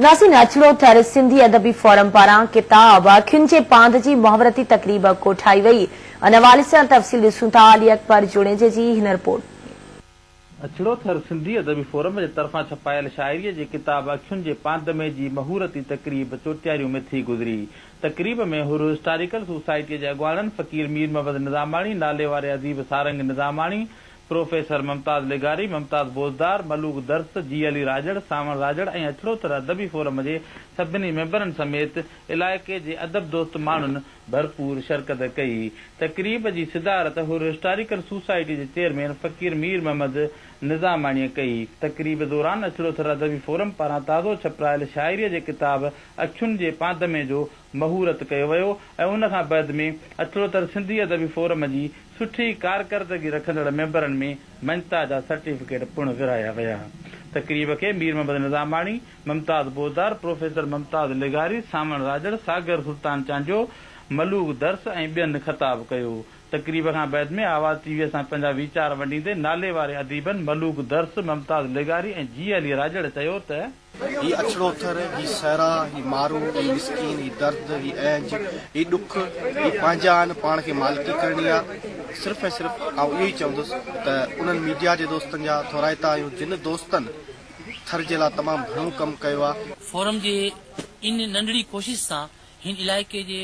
ناصر ناچڙو ٿر سنڌي ادبي فورم پاران ڪتاب اکين جي پاند جي محاورتي تقريب ڪوٺائي وئي، ان حوالي سان تفصيل ڏسون ٿا علي اڪبر جوڻيجي جي هن رپورٽ ۾. ناچڙو ٿر سنڌي ادبي فورم جي طرفان ڇپايل شاعريء جي ڪتاب اکين جي پاند ۾ جي محورتي تقريب چوٽياريون ۾ ٿي گذري. تقريب ۾ حر هسٽاريڪل سوسائٽيء جي اڳواڻن فقير مير محمد نظاماڻي ناليواري اديب سارنگ نظاماڻي، پروفيسر ممتاز لغاري، ممتاز بوزدار، ملوڪ درس، جي علي راڄڙ، سانوڻ راڄڙ ۽ اڇڙوتر ادبي فورم جي سڀني ميمبرن سميت علائقي جي ادب دوست ماڻهن ڀرپور شرڪت ڪئي. تقريب جي صدارت حر هسٽاريڪل سوسائٽي جي چيئرمين فقير مير محمد نظاماڻيء ڪئي. تقريب دوران اڇڙوٿر ادبي فورم پاران تازو ڇپرايل شاعريء جي ڪتاب اکين جي پانڌمي جو مهورت ڪيو ويو ۽ ان کان بعد ۾ اڇڙوتر سنڌي ادبي فورم جي سٺي ڪارڪردگي رکندڙ ميمبرن ۾ مڃتا جا سرٽيفڪيٽ پڻ ورهايا ويا. تقريب کي مير محمد نظاماڻي، ممتاز بوزدار، پروفيسر ممتاز لغاري، سانوڻ راڄڙ، ساگر سلطان چانڊيو، ملوڪ درس ۽ ٻين خطاب ڪيو. تقريب کان بعد ۾ آواز ٽي ويء سان پنهنجا ويچار ونڊيندي ناليواري اديبن ملوڪ درس، ممتاز لغاري ۽ جي علي راڄڙ چيو ته، هي اڇڙو ٿر، هي صحرا، هي مارو، هي مسڪين، هي درد، هي اهنج، هي ڏک، هي پنهنجا آهن، پاڻ کي مالڪي ڪرڻي آ. صرف ۽ صرف آئون اهو ئي چوندس ته انهن ميڊيا جي دوستن جا ٿورائتا آهيون جن دوستن ٿر جي لا تمام گهڻو ڪم ڪيو آ. فورم جي ان ننڍڙي ڪوشش سان هن علائقي جي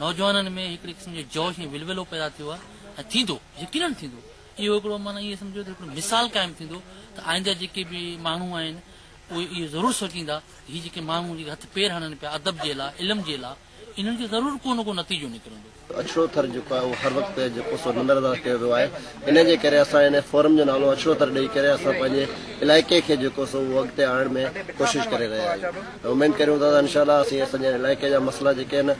نوجوانن ۾ هڪڙي قسم جو جوش ۽ ولولو پيدا ٿيو آ ۽ ٿيندو، يقينن ٿيندو. اهو هڪڙو معنيٰ ائين سمجهو ته هڪڙو مثال قائم ٿيندو ته آئنده جيڪي به ماڻهو آهن، اهي اهو ضرور سوچيندا ته هي جيڪي ماڻهو جيڪي هٿ پير هڻن پيا ادب جي لاء، علم جي لاء، انهن جو ضرور ڪو نه ڪو نتيجو نڪرندو. اڇڙو ٿر جيڪو آهي اهو هر وقت جيڪو سو نندر انداز ڪيو ويو آهي انهي جي ڪري اسان هن فورم جو نالو اڇڙو ٿر ڏئي ڪري اسان پنهنجي علائقي کي جيڪو سو اهو اڳتي آڻڻ ۾ ڪوشش ڪري رهيا آهيون ۽ اميد ڪريون ٿا ته انشاء الله اسين اسانجي علائقي جا مسئلا جيڪي آهن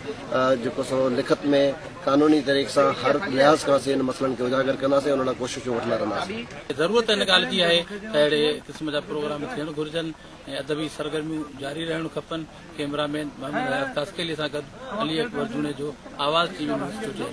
جيڪو سو لکت ۾ قانوني طريق سان هر لحاظ کان اسين انهن مسئلن کي اجاگر ڪنداسين ان لاء ڪوششون وٺندا رهنداسين. ضرورت ان ڳالهه جي آهي ته اهڙي قسم جا پروگرام ٿيڻ گهرجن ۽ ادبي سرگرميون جاري رهڻ کپن، ڪيمرا مين محمد حيات ڪاسڪيلي سان گڏ Ali Akbar Junejo, Awaz T V news چوٽيل.